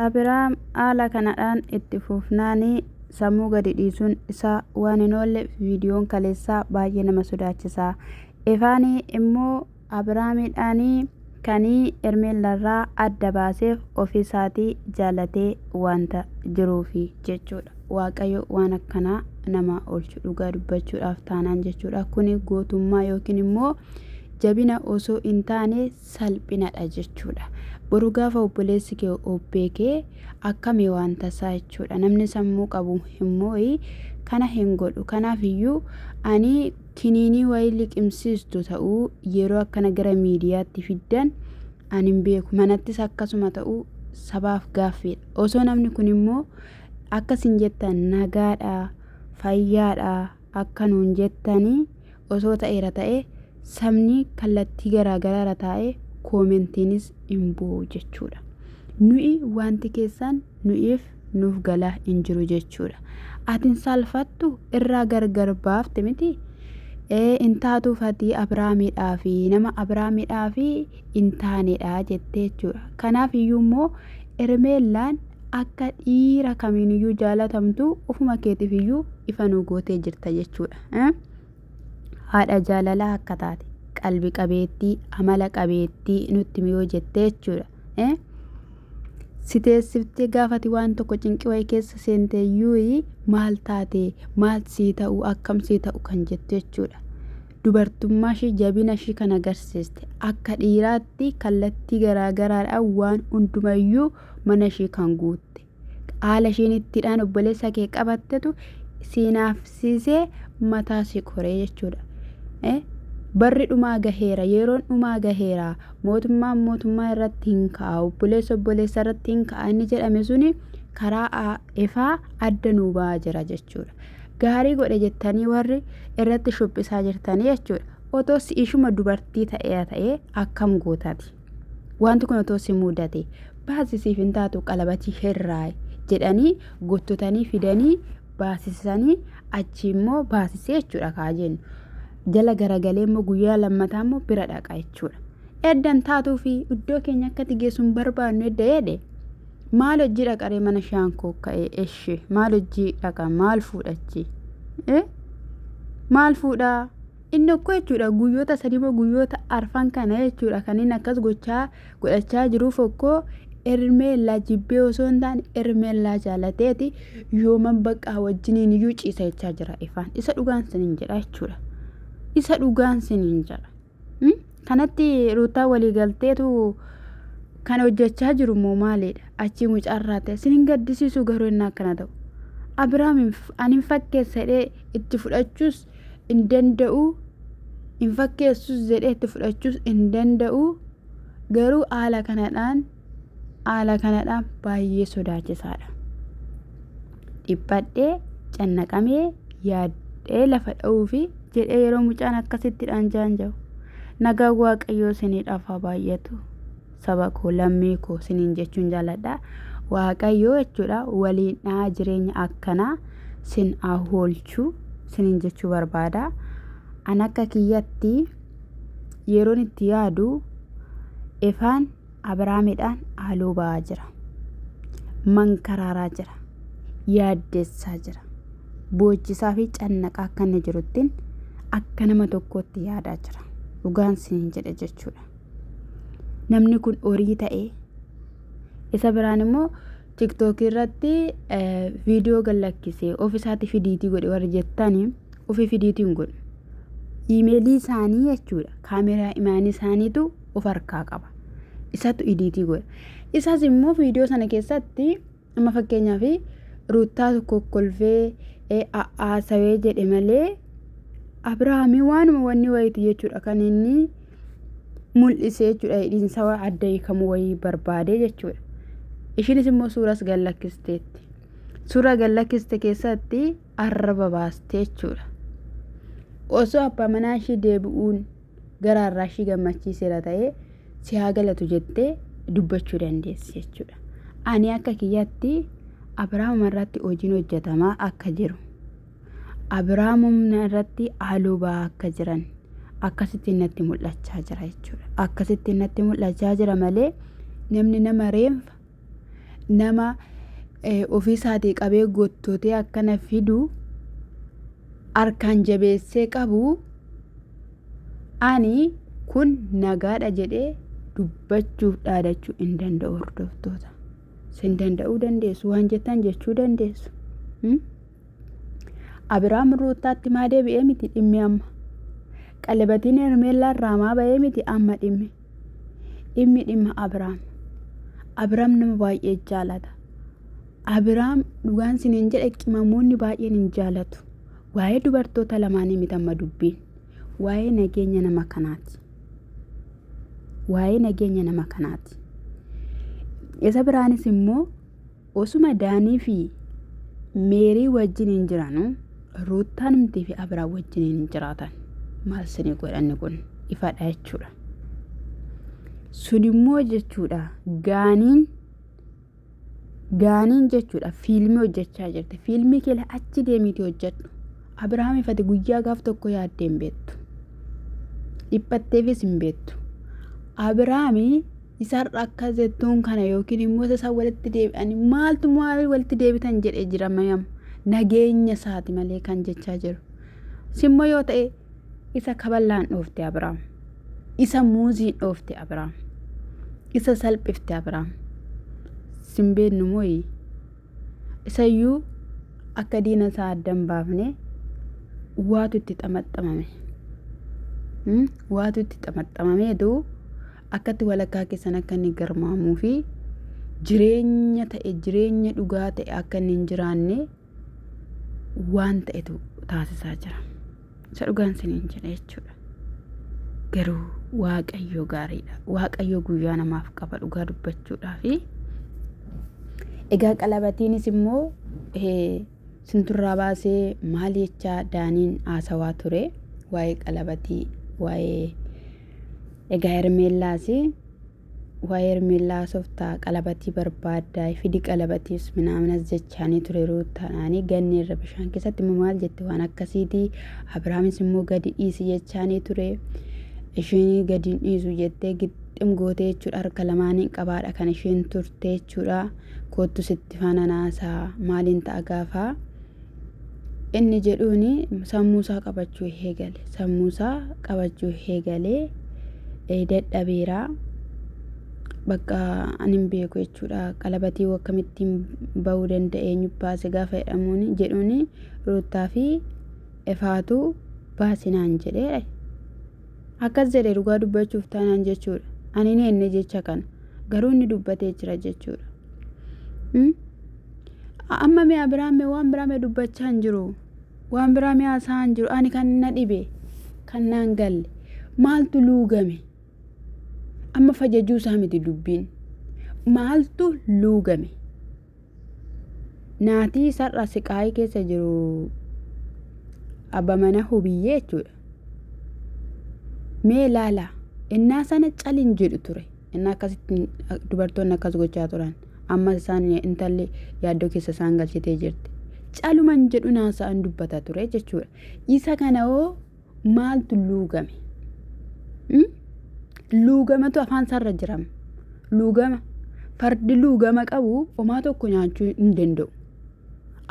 Abraam haala kanadhaan itti fufnaan sammuu gadi dhiisuun isaa waan hin oolle viidiyoon kaleessaa baay'ee nama sodaachisa. Ifaan immoo Abraamiidhaan kan Hermeellaarraa adda baaseef ofiisaatii jaalatee wanta jiruufi jechuudha. Waaqayyo waan akkanaa namaa oolchu dhugaa dubbachuudhaaf taanaan jechuudha. Kuni gootummaa yookiin immoo jabina osoo hin taane salphinadha jechuudha. Boru gaafa obboleessi kee of beeke akkami waan tasaa jechuudha. Namni sammuu qabu hin moo'i kana hin godhu. Kanaaf iyyuu ani kiniinii wayii liqimsiistu ta'uu yeroo akkana gara miidiyaatti fiddan ani hin beeku. Manattis akkasuma ta'uu sabaaf gaaffiidha. Osoo namni kun immoo akka isin jettan nagaadha, fayyaadha akka nuun jettanii osoo ta'eera ta'ee sabni kallattii garaa garaarra taa'ee koomentiinis hin bu'u jechuudha. Nuyi wanti keessaan nuyiif nuuf galaa hin jiru jechuudha. Ati hin saalfattu irraa gargar baafte miti. Ee hin taatuuf ati Abiraamidhaa fi nama Abiraamidhaa fi hin taanedha jettee jechuudha. Kanaaf iyyuu immoo Ermeellaan akka dhiira kamiiniyyuu jaalatamtu ofuma keetiif iyyuu ifa nu gootee jirta jechuudha. haadha jaalalaa akka taate qalbi qabeettii amala qabeettii nutti miyoo jettee jechuudha. Eh? si teessiftee gaafati waan tokko cinqii wayii keessa seentee yuuyi maal taate maal sii ta'u akkam sii ta'u kan jettu jechuudha. Dubartummaa ishii jabina ishii kan agarsiiste akka dhiiraatti kallattii garaagaraadhaan waan hundumayyuu mana ishii kan guutte. Haala isheen ittidhaan obboleessa kee qabattetu siinaafsiisee mataa si koree jechuudha. Eh, Barri dhumaa gaheera, yeroon dhumaa gaheera, mootummaan mootummaa irratti hin ka'a, obboleessa obboleessa irratti hin ka'a inni jedhame suni karaa a- ifaa adda nuu ba'aa jira jechuudha. Gaarii godhe jettanii warri irratti shubbisaa jirtanii jechuudha. Otoo si ishuma dubartii ta'ee ta'ee akkam gootati? Wanti kun otoo si mudate baasisiif hin taatu qalabatii herraa jedhanii gottotanii fidanii baasisanii achi immoo baasisee jechuudha kaa jennu. Jala garagalee immoo guyyaa lammataa immoo bira dhaqa jechuudha. Eddan taatuu fi iddoo keenya akkatti geessu hin barbaannu edda jedhe maal hojii dhaqaree mana shaankoo ka'ee eshi maal hojii dhaqa maal fuudhachi maal fuudhaa Inni okkoo jechuudha guyyoota sadimoo guyyoota arfan kana jechuudha kan inni akkas gochaa godhachaa jiruuf okkoo Hermeellaa jibbee osoo hin taane Hermeellaa jaalateeti yooman baqqaa wajjiniin iyyuu ciisa jechaa jira ifaan isa dhugaan siniin jedha jechuudha isa dhugaan siniin jedha. Kanatti Ruuttaan walii galteetu kan hojjechaa jiru immoo maaliidha? Achii mucaa irraa ta'e sin hin gaddisiisu garuu inni akkana ta'u. Abiraam ani hin fakkeessa jedhee itti fudhachuus hin danda'u. Hin fakkeessus jedhee itti fudhachuus hin danda'u. Garuu haala kanadhaan haala kanadha baay'ee sodaachisaadha. Dhiphadhee cannaqamee yaaddee lafa dha'uufi jedhee yeroo mucaan akkasitti dhaanjaan jiru nagaa waaqayyoo sinii dhafaa baay'atu saba koo lammii koo siniin jechuun jaaladha waaqayyoo jechuudha waliin dhaa jireenya akkanaa sin ahoolchuu siniin jechuu barbaada an akka kiyyatti yeroon itti yaadu ifaan Abrahaamidhaan haaloo ba'aa jira. Mankaraaraa jira. Yaaddessaa jira. Boochisaa fi cannaqaa akka inni jiruttiin akka nama tokkootti yaadaa jira. Dhugaan siin jedhe jechuudha. Namni kun horii ta'ee isa biraan immoo tiktookii irratti viidiyoo gallakkisee of isaatti fidiitii godhe warri jettanii ofi fidiitiin godhe. Imeelii isaanii jechuudha. Kaameraa imaanii isaaniitu of harkaa qaba. Isatu idiitii godha. Isas immoo viidiyoo sana keessatti amma fakkeenyaaf ruuttaa kokkolfee haasawee jedhe malee Abirahaamii waanuma wanni wayiiti jechuudha kan inni mul'isee jechuudha hidhiinsa adda hiikamu wayii barbaadee jechuudha. Ishiinis immoo suuras gallakkisteetti. Suura gallakkiste keessatti arraba baastee jechuudha. Osoo abbaa manaa ishii deebi'uun garaa irraa ishii gammachiiseera ta'ee si haa galatu jettee dubbachuu dandeessi jechuudha. Ani akka kiyyaatti Abiraamuma irratti hojiin hojjetamaa akka jiru Abiraamumna irratti haaloo ba'aa akka jiran akkasitti natti mul'achaa jira jechuudha. Akkasitti natti mul'achaa jira malee namni nama reenfa nama ofii isaatii qabee gottotee akkana fidu harkaan jabeessee qabu ani kun nagaadha jedhee dubbachuuf dhaadachuu hin danda'u hordoftoota. Sin danda'uu dandeessu waan jettan jechuu dandeessu. Abiraam Ruuttaatti maa deebi'ee miti dhimmi amma. Qalabatiin Hermeellaa irraa maa ba'ee miti amma dhimmi. Dhimmi dhimma Abiraam. Abiraam nama baay'ee jaalata. Abiraam dhugaan siniin jedhe qimamoonni baay'een hin jaalatu. Waa'ee dubartoota lamaanii miti amma dubbiin. Waa'ee nageenya nama kanaati. Waa'ee nageenya nama kanaati. Isa biraanis immoo Osuma Daanii fi Meerii wajjiniin jiranu Ruuttaan mtii fi Abiraam wajjiniin hin jiraatan. Maal sini godhanni kun ifadha jechuudha. Sunimmoo jechuudha gaaniin gaaniin jechuudha fiilmii hojjechaa jirti. Fiilmii kee achi deemiitii hojjedhu. Abiraam ifate guyyaa gaaf tokko yaaddee hin beektu. Dhiphatteefis hin beektu. Abiraamii Isaan rakka zettuun kana yookiin immoo isa isaan walitti deebi'anii maaltu maal walitti deebitan jedhee jira mayam nageenya isaati malee kan jechaa jiru. Simmoo yoo ta'e isa kaballaan dhoofte Abiraam. Isa muuziin dhoofte Abiraam. Isa salphifte Abiraam. Simbeennu mooyi. Isayyuu akka diina isaa adda hin baafne waatu itti xamaxxamame. Waatu itti xamaxxamamee duu Akkatti walakkaa keessan akka inni garmaamuu fi jireenya ta'e jireenya dhugaa ta'e akka inni hin jiraanne waan ta'etu taasisaa jira. Isa dhugaan siniin jedha jechuudha. Garuu waaqayyoo gaariidha. Waaqayyoo guyyaa namaaf qaba dhugaa dubbachuudhaa fi egaa qalabatiinis immoo Sintu irraa baasee maal jechaa Daaniin haasawaa ture waa'ee qalabatii waa'ee egaa Hermeellaasi waa'ee Hermeellaa haasoftaa qalabatii barbaaddaa fidi qalabatiis minaaminas jechaanii ture ruuttaadhaanii ganni irra bishaan keessatti immoo maal jette waan akkasiitii Abiraamis immoo gadi dhiisi jechaanii ture isheenii gadi hin dhiisu jettee gixxim gootee jechuudha harka lamaaniin qabaadha kan isheen turte jechuudha. koottu sitti faana naasaa maaliin ta'a gaafa inni jedhuun sammuusaa qabachuu eegale sammuusaa qabachuu eegalee dadhabeera bakka ani hin beeku jechuudha qalabatii akkamittiin ba'uu danda'e eenyu baase gaafa jedhamuun jedhuun ruuttaa fi efaatu baasinaan jedhee Akkas jedhe dhugaa dubbachuuf taanaan jechuudha. Ani hin heenne jecha kana. Garuu inni dubbatee jira jechuudha. Hmm? Amma mee Abiraam mee waan biraa mee dubbachaa hin jiru. Waan biraa mee haasa'aa hin jiru. Ani kan na dhibe. Kan naan galle. Maaltu luugame? Amma fajajuu isaa miti dubbiin. Maaltu luugame? Naatii isarra siqaayii keessa jiru abba mana hubiyyee jechuudha. Mee ilaala innaa sana cal hin jedhu ture. Innaa akkasitti dubartoonni akkas gochaa turan. Ammas isaan intalli yaaddoo keessa isaan galchitee jirti. Caluma hin jedhu naasa'an dubbata ture jechuudha. Isa kana hoo maaltu luugame? Hmm? Luugamatu afaan isaarra jiram. Luugama. Fardi luugama qabu homaa tokko nyaachuu hin danda'u.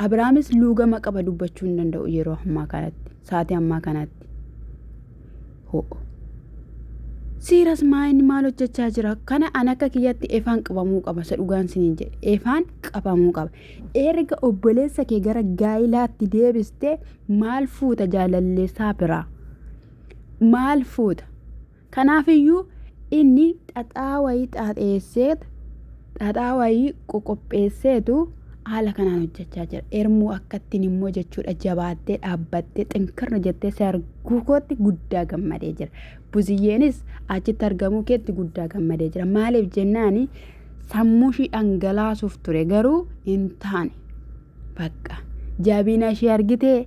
Abrahaamis luugama qaba dubbachuu hin danda'u yeroo ammaa kanatti, sa'aatii ammaa kanatti. Ho'o. Siiras maayin maal hojjechaa jira? Kana an akka kiyyatti efaan qabamuu qaba. Isa dhugaan siniin jedhe. Efaan qabamuu qaba. Erga obboleessa kee gara gaa'ilaatti deebiste maal fuuta jaalalleessaa biraa? Maal fuuta? Kanaafiyyuu inni xaxaa wayii xaaxeessee xaxaa wayii qoqopheesseetu haala kanaan hojjechaa jira. Ermuu akkattiin immoo jechuudha jabaattee dhaabbattee xinkirra jettee si arguu kootti guddaa gammadee jira. Buziyyeenis achitti argamuu keetti guddaa gammadee jira. Maaliif jennaani sammuu ishii dhangalaasuuf ture garuu hin taane bakka jabina ishee argitee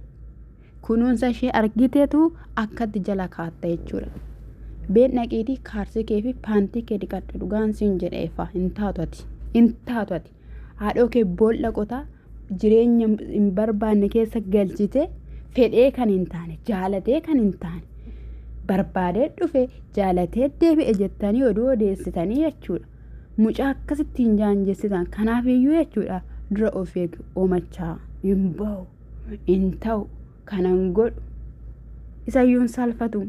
kunuunsa ishee argiteetu akkatti jala kaatta jechuudha. Been dhaqiitii kaarsii kee fi paantii kee dhiqadhu dhugaan siin jedheefa hin taatu ati hin taatu ati haadhoo kee boolla qotaa jireenya hin barbaanne keessa galchite fedhee kan hin taane jaalatee kan hin taane barbaadee dhufe jaalatee deebi'e jettanii oduu odeessitanii jechuudha. Mucaa akkasitti hin jaanjessitan kanaaf iyyuu jechuudha dura of eegu omachaa hin bahu hin ta'u kanan godhu isayyuu hin salfatu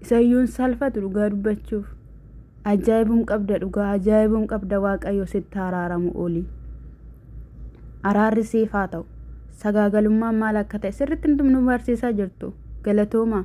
isayyuu hin salfatu dhugaa dubbachuuf. Ajaibum qabda dhugaa ajaibum qabda waaqayyo sitti haraaramu oli araarri siif haa ta'u sagaagalummaan maal akka ta'e sirritti nu barsiisaa jirtu galatoomaa.